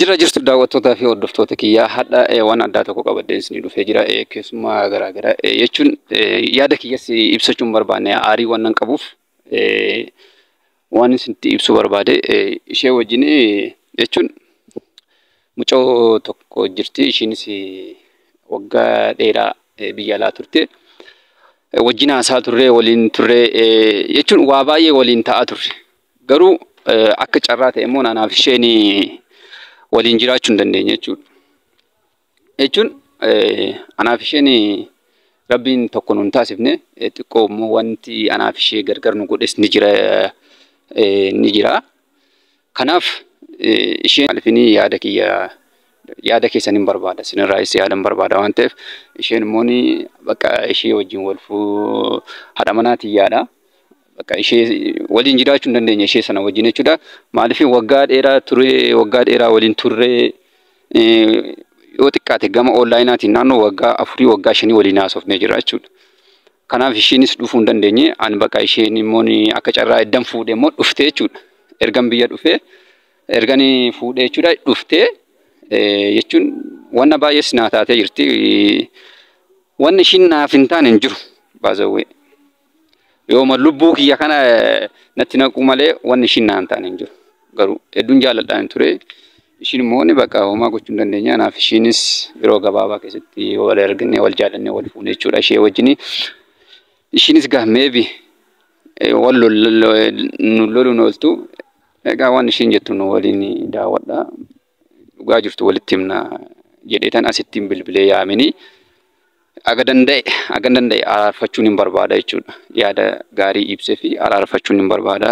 Jirra jirtu daawwattootaa fi hordoftoota kiyyaa hadha eh, waan addaa tokko qabadheen isinii dhufee jira eh, keessummaa garaagara eh, jechuun eh, yaada kiyyas ibsachuun barbaanne aarii waan nan qabuuf Waan isinitti ibsuu barbaade ishee wajjin jechuun mucoo tokko jirti ishiinis waggaa dheeraa biyya alaa turte. Wajjin haasaa turre waliin turre jechuun waa baay'ee waliin ta'aa turre. Garuu akka carraa ta'e immoo anaaf isheen waliin jiraachuu hin dandeenye jechuudha. jechuun anaaf isheen rabbiin tokko nun taasifne xiqqoo immoo wanti anaaf ishee gargar nu godhes ni jira ni jira. Kanaaf isheen maalifini yaada kiyya yaada keessan hin barbaada sinirraayis yaada hin barbaada waan ta'eef isheen immoo bakka ishee wajjin wal fuu haadha manaa tiyyaadha. Bakka ishee waliin jiraachuu hin dandeenye ishee sana wajjin jechuudha. Maaliif waggaa dheeraa turee waggaa dheeraa waliin turree yoo xiqqaate gama onlaayinaatiin naannoo waggaa afurii waggaa shanii waliin haasofnee jira jechuudha. Kanaaf isheenis dhufuu hin dandeenye ani bakka isheen immoo akka carraa eddan fuudhe immoo dhufte jechuudha. Ergan biyya dhufee ergan fuudhe jechuudha dhuftee jechuun wanna baay'ees naa taatee jirti. Wanni ishiin naaf hin taane hin jiru baazawwee. Yooma lubbuu kiyya kana natti naquu malee wanni ishiin naan taane hin jiru. Garuu hedduun jaalladhaan ture. Ishiin immoo ni bakka homaa gochuu hin dandeenye. Kanaaf ishiinis yeroo gabaabaa keessatti yoo wal argine wal jaallannee wal fuune jechuudha ishee wajjin. Ishiinis gaa meebi wal loluun ooltu. Egaa waan ishiin jettu nu waliin daawwadha. dhugaa jirtu walitti himna jedheetan asittiin bilbilee yaamini aga danda'e agan danda'e araarfachuun hin barbaada jechuudha. Yaada gaarii ibsee fi araarfachuun hin barbaada.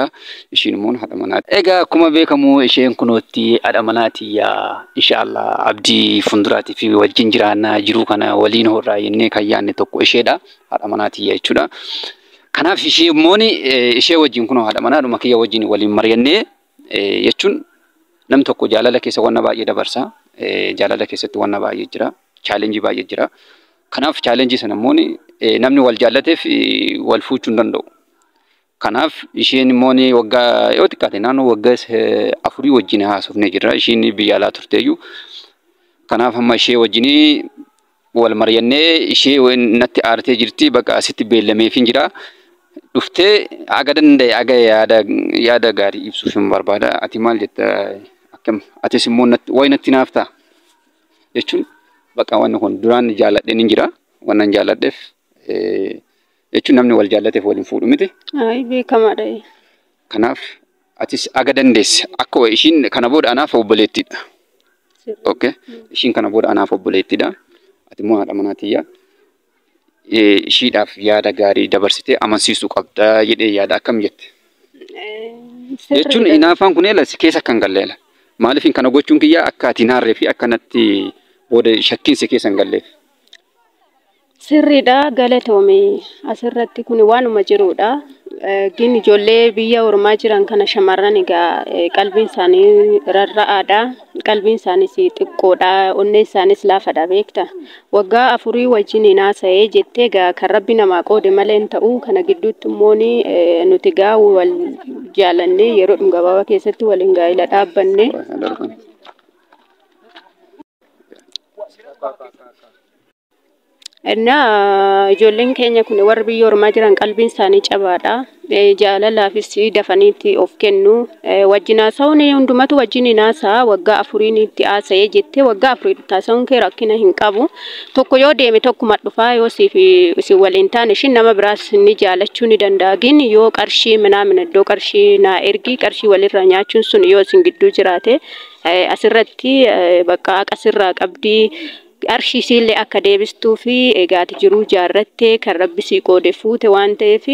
Ishiin immoo haadha manaati. Egaa akkuma beekamu isheen kunootti haadha manaati yaa inshaallah abdii fuulduraati fi wajjin jiraannaa jiruu kana waliin horraa jennee kan yaadne tokko isheedha. Haadha manaati yaa jechuudha. Kanaaf ishee immoo ishee wajjin kunoo haadha manaadhuma kiyya wajjin waliin mari'annee jechuun nam tokko jaalala keessa wanna baay'ee dabarsa. Jaalala keessatti wanna baay'ee jira. Chaalenjii baay'ee jira. Kanaaf chaalenjii sana immoo namni wal jaallateef wal fuuchuu hin danda'u. Kanaaf isheen immoo waggaa yoo xiqqaate naannoo waggaa afurii wajjin haasofnee jirra. Isheen biyya alaa turteeyyuu. Kanaaf amma ishee wajjin Wal maryannee ishee wen natti aartee jirti baqa asitti beellameefin jira. Dhuftee aga danda'e aga yaada yaada gaarii ibsuufin barbaada. Ati maal jetta akkam atis immoo natti way natti naaf ta'a jechuun baqa wanni kun duraan jaalladheen hin jira wannan jaalladheef jechuun namni wal jaallateef wal hin fuudhu miti. Ayi beekamaadha. Kanaaf Atis aga dandeesse akka wayi ishiin kana booda anaaf obboleettiidha. Okay. Ishiin kana booda anaaf obboleettiidha. Ati immoo haadha manaa tiyya. Eh, Ishiidhaaf yaada gaarii dabarsitee amansiisuu qabda jedhee yaada akkam jette. Jechuun inaafaan kun eela si keessa kan galleela. Maaliif kana gochuun kiyya akka ati naarree fi akka natti booda shakkiin si keessa hin galleef. Sirridha galatoomi asirratti kun waanuma jiruudha. Gin ijoollee biyya ormaa jiran kana shamarran egaa qalbiin isaanii rarra'aadha. Qalbiin isaaniis xiqqoodha. Onnee isaaniis laafadha beekta. Waggaa afurii wajjin hin haasa'ee jettee egaa kan rabbi namaa qoode malee hin ta'u. Kana gidduutti immoo nuti egaa wal jaalannee yeroo gabaabaa keessatti waliin gaa'ila dhaabbanne. Innaa ijoolleen keenya kun warri biyya ormaa jiran qalbiin isaanii cabaadha. Eh, Jaalalaafis dafaniitti of kennu. Eh, Wajjin haasa'uun hundumatu wajjin hin haasa'a. Waggaa afuriin itti haasa'ee jettee waggaa afuriin itti haasa'uun kee rakkina hin qabu. Tokko yoo deeme tokkuma dhufaa yoo siif isin waliin taane ishiin nama biraas ni jaalachuu ni danda'a. Gin yoo qarshii minaamin iddoo qarshii naa ergi qarshii walirraa nyaachuun sun yoo isin gidduu jiraate eh, asirratti eh, bakka haqa sirraa qabdii. Qarshii isiillee akka deebistuufi egaa ati jiruu ijaarratte kan rabbi sii qoode fuute waan ta'eef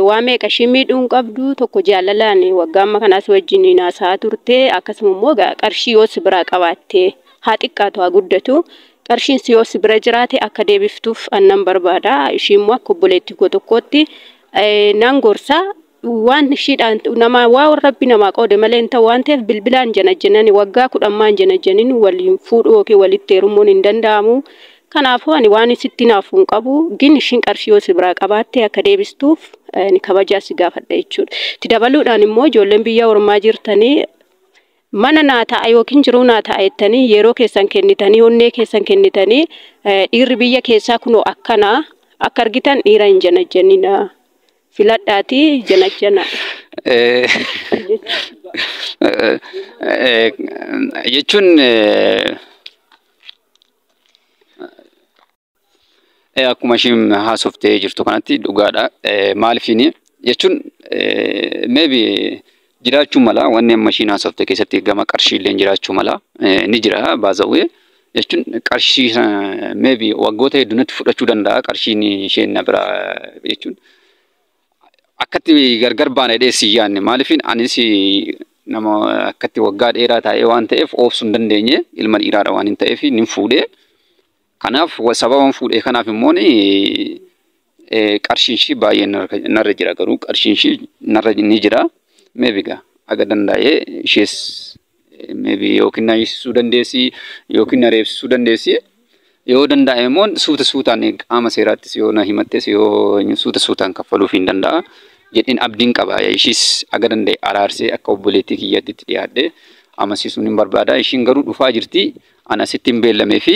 waa meeqa ishii miidhuu hin qabdu tokko jaalalaan waggaa amma kanaa si wajjiniin haasa'aa turte akkasuma immoo egaa qarshii yoo si biraa qabaatte haa xiqqaatu haa guddatu qarshiin si yoo si bira jiraate akka deebiftuuf annan barbaada ishii immoo akka obboleettii koo tokkootti nan gorsa waan shiidhaan namaa waa rabbi namaa qoode malee hin ta'u waan ta'eef bilbilaan janajjannani waggaa kudhan maan janajjanin waliin fuudhuu yookiin walitti heerumuun hin danda'amu kanaafuu ani waan sitti naafu hin qabu gin ishiin qarshii yoo si biraa qabaatte akka deebistuuf ani kabajaa si gaafadha jechuudha itti dabaluudhaan immoo ijoolleen biyya ormaa jirtanii mana naa ta'a yookiin jiruu naa ta'a jettanii yeroo keessan kennitanii onnee keessan kennitanii dhiirri biyya keessaa kunoo akkanaa akka argitan dhiira hin janajjanina Filadhaatii janajjanaa. jechuun akkuma ishiin haasoftee jirtu kanatti dhugaadha. Maaliifini jechuun maybe jiraachuu mala wanni amma ishiin haasofte keessatti gama qarshii illee jiraachuu mala ni jira baazawwee jechuun qarshii meebi waggoota hedduunatti fudhachuu danda'a qarshiin isheen na biraa jechuun akkatti gargar baana jedhee si yaanne maaliifin anis nama akkatti waggaa dheeraa taa'ee waan ta'eef oobsuu hin dandeenye ilma dhiiraadha waan hin ta'eef nin fuudhee kanaaf sababa fuudhee kanaaf immoo Qarshiin ishii baay'ee narra jira garuu qarshiin ishii narra ni jira. Meebi gaa aga dandaa'ee ishees meebi yookiin na hiisisuu dandeessi yookiin na reebsisuu dandeessi. Yoo dandaa'e immoo suuta suutaan qaama seeraattis yoo na himattes yoo suuta suutaan kaffaluuf hin danda'a. Jedheen abdiin qaba ishiis aga danda'e araarsee akka obboleettii kiyyaatti itti dhiyaadhee amansiisuun hin barbaada. Ishiin garuu dhufaa jirti. An asitti hin beellamee fi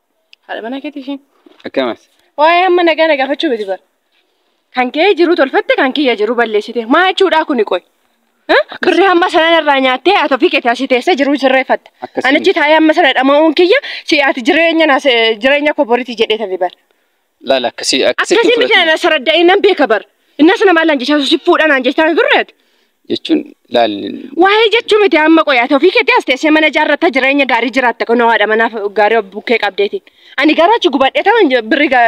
Haadha manaa keetii isheen. Akkamas. Waa'ee amma nagaa na gaafachuu miti bara. Kan kee jiru tolfatte kan kiyya jiru balleessite. Maa jechuudhaa kuni qoy. Birri hamma sanan irraa nyaattee ati ofii keetii asii teessee jiruu sirreeffatta. Akkasii Anichi miti. taa'ee amma sana dhama'uun kiyya si ati jireenya na jireenya koo boritii jedhee tafi bara. Laal akkasii akkasitti Akkasiin miti fudhatu. na saradda'ee nan beeka bar. Innas nama allaan jechaa si fuudha naan jechaa hin turre ati. Jechuun laal Waa'ee jechuu miti amma qoyaa ta'u ofii keetti as teessee mana ijaarratta jireenya gaarii jiraatta kun haadha manaaf gaarii of bukkee qabdeetiin. Ani garuu achi gubadhee ta'an birri gaa.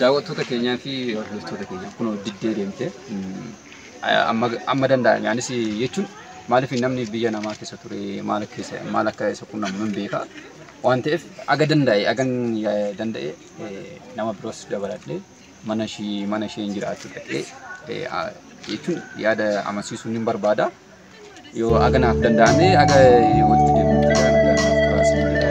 Daawwattoota keenyaa fi hordoftoota keenya kunoo diddee deemte amma amma danda'ame anis jechuun maaliif namni biyya namaa keessa ture maal keessa maal akka isa quunnamu nan beeka waan ta'eef aga danda'e agan danda'e nama biroos dabaladhee mana ishii mana isheen jiraattu dhaqee eh, a- jechuun yaada amansiisuun hin barbaada. Yoo aga naaf danda'ame aga walitti deemuutti gara nagaa naaf turaasii jedha.